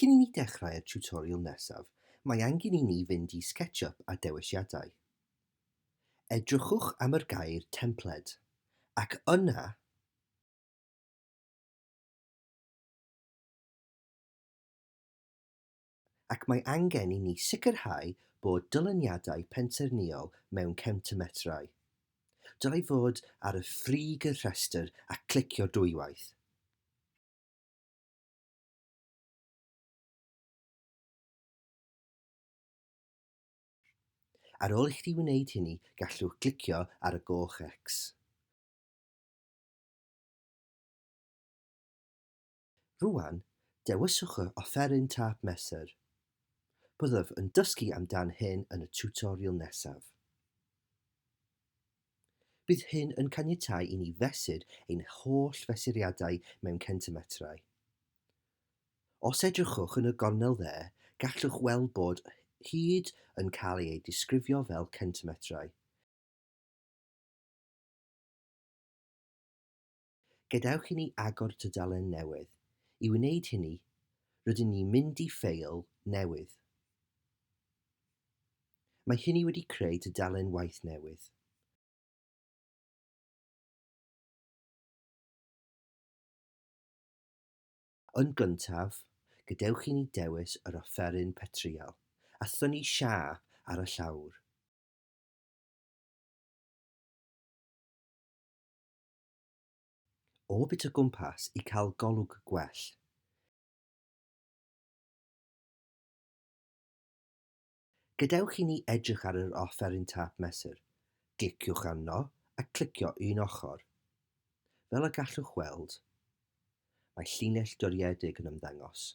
Cyn i ni ddechrau'r tiwtorial nesaf, mae angen i ni fynd i SketchUp a Dewisiadau. Edrychwch am yr gair Templed, ac yna, ac mae angen i ni sicrhau bod dyluniadau pensaernïol mewn centimetrau. Dylai fod ar y frig y rhestr a clicio dwywaith. Ar ôl i chdi wneud hynny, gallwch glicio ar y goch X. Rŵan, dewiswch yr offeryn tâp mesur. Byddaf yn dysgu amdan hyn yn y tiwtorial nesaf. Bydd hyn yn caniatáu i ni fesur ein holl fesuriadau mewn centimetrau. Os edrychwch yn y gornel dde, gallwch weld bod hyd yn cael ei disgrifio fel centimetrau. Gadewch i ni agor tudalen newydd. I wneud hynny, rydyn ni'n mynd i ffeil newydd. Mae hynny wedi creu tudalen waith newydd. Yn gyntaf, gadewch i ni dewis yr offeryn petrïal, a thynnu siâ ar y llawr. Orbit o gwmpas i cael golwg gwell. Gadewch i ni edrych ar yr offeryn tâp mesur. Gliciwch arno a clicio un ochr. Fel y gallwch weld, mae llinell doriedig yn ymddangos,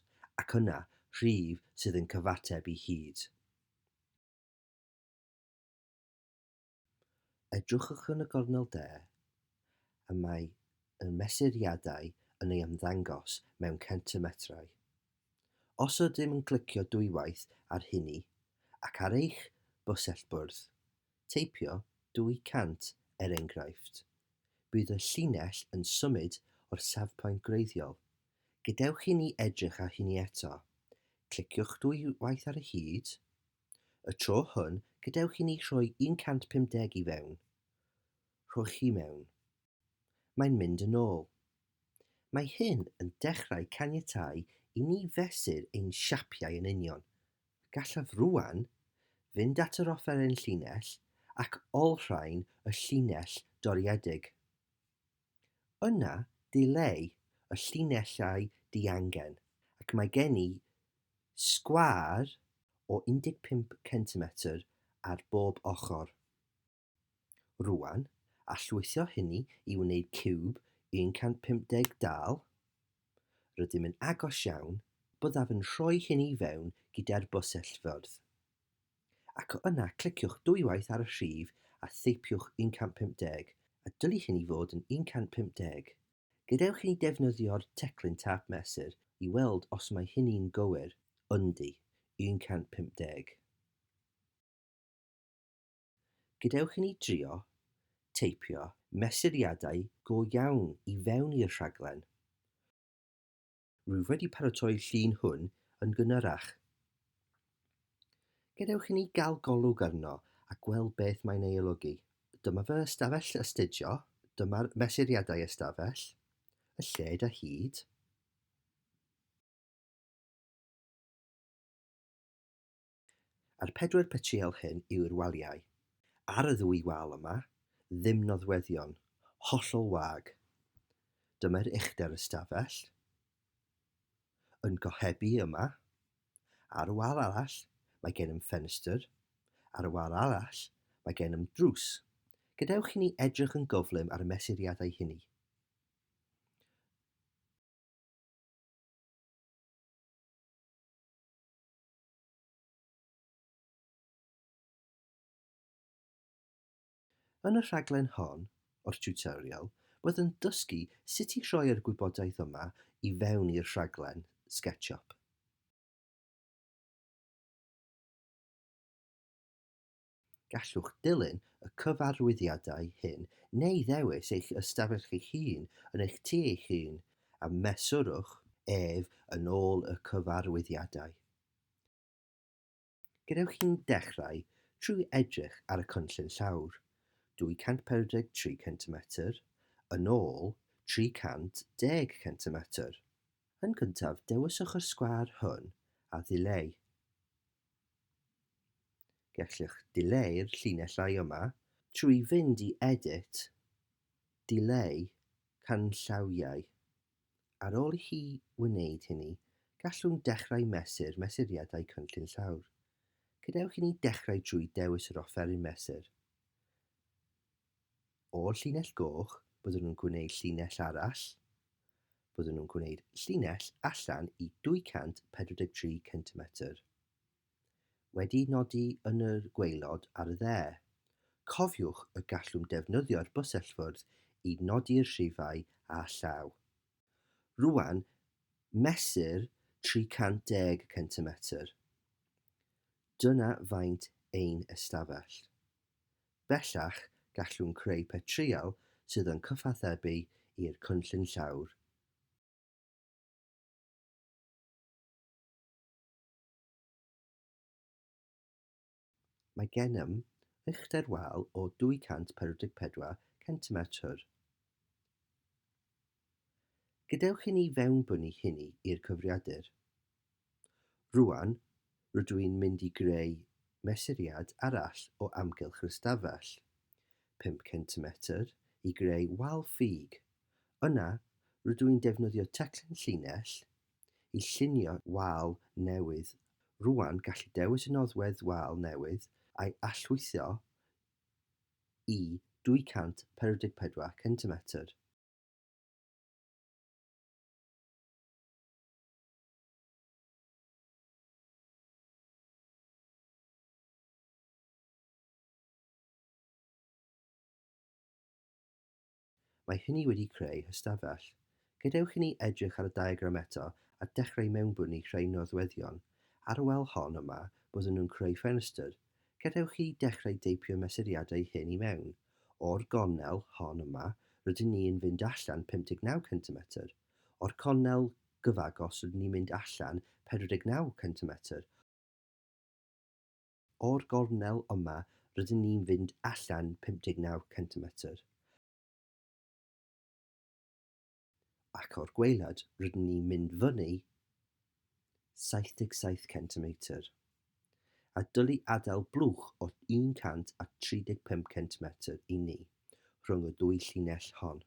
ac yna rhif sydd yn cyfateb i hyd. Edrychwch yn y gornel de, a mae y mesuriadau yn ei ymddangos mewn centimetrau. Os ydym yn clicio dwywaith ar hynny, ac ar eich bysellbwrdd, teipio 200 er enghraifft, bydd y llinell yn symud o'r safpwynt gwreiddiol. Gadewch i ni edrych ar hynny eto. Cliciwch dwywaith ar y hyd, Y tro hwn, gadewch i ni rhoi 150 i fewn. Rhowch chi mewn. Mae'n mynd yn ôl. Mae hyn yn dechrau caniatáu i ni fesur ein siapiau yn union. Gallaf rŵan fynd at yr offeryn llinell ac olrhain y llinell dorriedig. Yna, dileu y llinellau diangen, ac mae gen i sgwâr o 15 centimetr ar bob ochr. Rŵan, a llwytho hynny i wneud ciwb 150 dal? Rydym yn agos iawn, byddaf yn rhoi hynny i fewn gyda'r bysellfyrdd. ac o yna cliciwch dwywaith ar y rhif a theipiwch 150, a dylid hyn i fod yn 150. Gadewch i ni ddefnyddio'r teclyn tâp mesur i weld os mae hynny'n gywir, yndi, 150. Gadewch i ni drio teipio mesuriadau go iawn i fewn i'r rhaglen. Rwyf wedi paratoi'r llun hwn yn gynharach. Gadewch i ni gael golwg arno a gweld beth mae'n ei olygu. Dyma fy ystafell astudio, dyma'r mesuriadau ystafell, y lled a hyd, A'r pedwar petriel hyn yw'r waliau. Ar y ddwy wal yma, ddim nodweddion, hollol wag. Dyma'r uchder ystafell, yn gohebu yma. Ar y wal arall, mae gennym ffenestr. Ar y wal arall, mae gennym drws. Gadewch i ni edrych yn gyflym ar y mesuriadau hynny. Yn y rhaglen hon o'r tiwtorial, byddwn dysgu sut i rhoi yr gwybodaeth yma i fewn i'r rhaglen SketchUp. Gallwch ddilyn y cyfarwyddiadau hyn neu ddewis eich ystafell eich hun yn eich tŷ eich hun, a mesurwch ef yn ôl y cyfarwyddiadau. Gadewch i ni ddechrau trwy edrych ar y cynllun llawr, 243 centimetr yn ôl 310 centimetr. Yn gyntaf dewiswch y sgwâr hwn a ddileu. Gellwch dileu'r llinellau yma trwy fynd i Edit, Dileu Canllawiau. Ar ôl i chi wneud hynny, gallwn dechrau mesur mesuriadau cynllun llawr. Gadewch i ni ddechrau drwy dewis yr offeryn mesur. O'r llinell goch, byddwn yn gwneud llinell arall. Byddwn nhw'n gwneud llinell allan i 243 centimetr. Wedi nodi yn y gwaelod ar y dde. Cofiwch y gallwn defnyddio'r bysellfwrdd i nodi'r rhifau â llaw. Rwan, mesur 310 centimetr. Dyna faint ein ystafell. Bellach, gallwn creu petryal sydd yn cyfathrebu i'r cynllun llawr. Mae gennym uchder wal o 244 centimetr. Gadewch i ni fewnbynnu hynny i'r cyfrifiadur. Rŵan, rydw i'n mynd i greu mesuriad arall o amgylch yr ystafell, pump centimetr, i greu wal ffug. Yna, rydw i'n defnyddio teclyn llinell i llunio wal newydd. Rŵan, gallu dewis y noddwedd wal newydd a'i allwythio i 244 centimetr. Mae hynny wedi creu hystafell. Gadewch i ni edrych ar y diagram eto a dechrau mewnbwn i rhai nodweddion. Ar y wal hon yma, byddwn nhw'n creu ffenestr. Gadewch i ni dechrau deipio mesuriadau hyn i mewn. O'r gornel hon yma, rydyn ni yn fynd allan 59 centimetr. O'r cornel gyfagos rydyn ni'n mynd allan 49 centimetr. O'r gornel yma, rydyn ni'n fynd allan 59 centimetr. ac o'r gwaelod rydyn ni'n mynd fyny 77 centimetr, a dylai adael blwch o 135 centimetr i ni rhwng y ddwy llinell hon.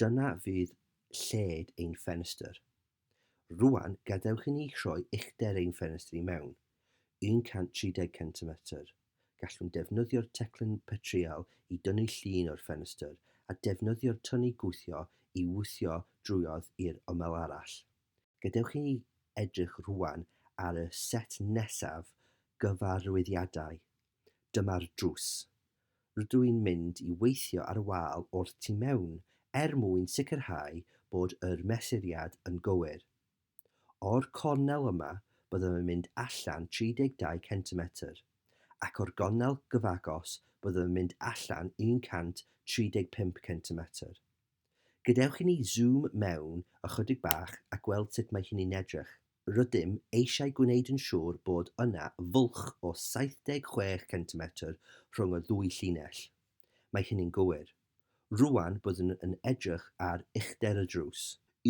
Dyna fydd lled ein ffenestr, Rwan, gadewch i ni rhoi uchder ein ffenestr i mewn, 130 centimetr. Gallwn defnyddio'r teclyn petrïal i dynnu llun o'r ffenestr a defnyddio'r tyni gwthio i wthio drwodd i'r ymyl arall. Gadewch i ni edrych rwan ar y set nesaf gyfarwyddiadau Dyma'r drws. Rydw i'n mynd i weithio ar wal o'r tu mewn er mwyn sicrhau bod yr mesuriad yn gywir. O'r cornel yma byddaf yn mynd allan 32 centimetr, ac o'r gornel gyfagos byddaf yn mynd allan 135 centimetr. Gadewch i ni zoom mewn ychydig bach a gweld sut mae hynny'n edrych. Rydym eisiau gwneud yn siŵr bod yna fwlch o 76 centimetr rhwng y ddwy llinell. Mae hynny'n gywir. Rŵan byddwn yn edrych ar uchder y drws,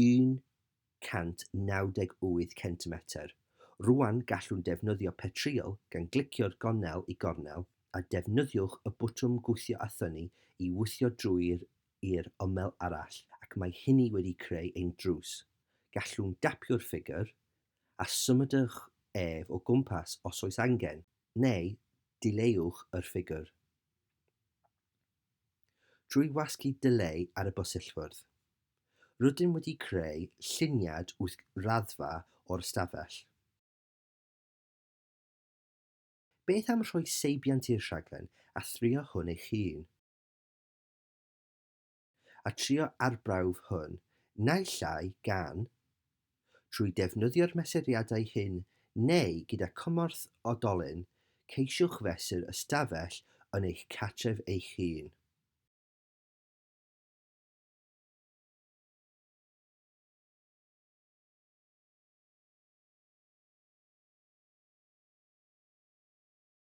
198 centimetr. Rŵan gallwn ddefnyddio petrîl gan glicio'r gornel i gornel, a defnyddiwch y botwm gwthio a thynnu i wthio drwy'r i'r ymyl arall ac mae hynny wedi creu ein drws. Gallwn gapio'r ffigwr, a symudwch ef o gwmpas os oes angen, neu dileuwch yr ffigwr drwy wasgu dileu ar y bysillfwrdd. Rydym wedi creu lluniad wyth raddfa o'r ystafell. Beth am rhoi seibiant i'r rhaglen a thrio hwn eich hun? a trio arbrawf hwn naill ai gan, trwy defnyddio'r mesuriadau hyn neu gyda chymorth oedolyn, ceisiwch fesur ystafell yn eich cartref eich hun.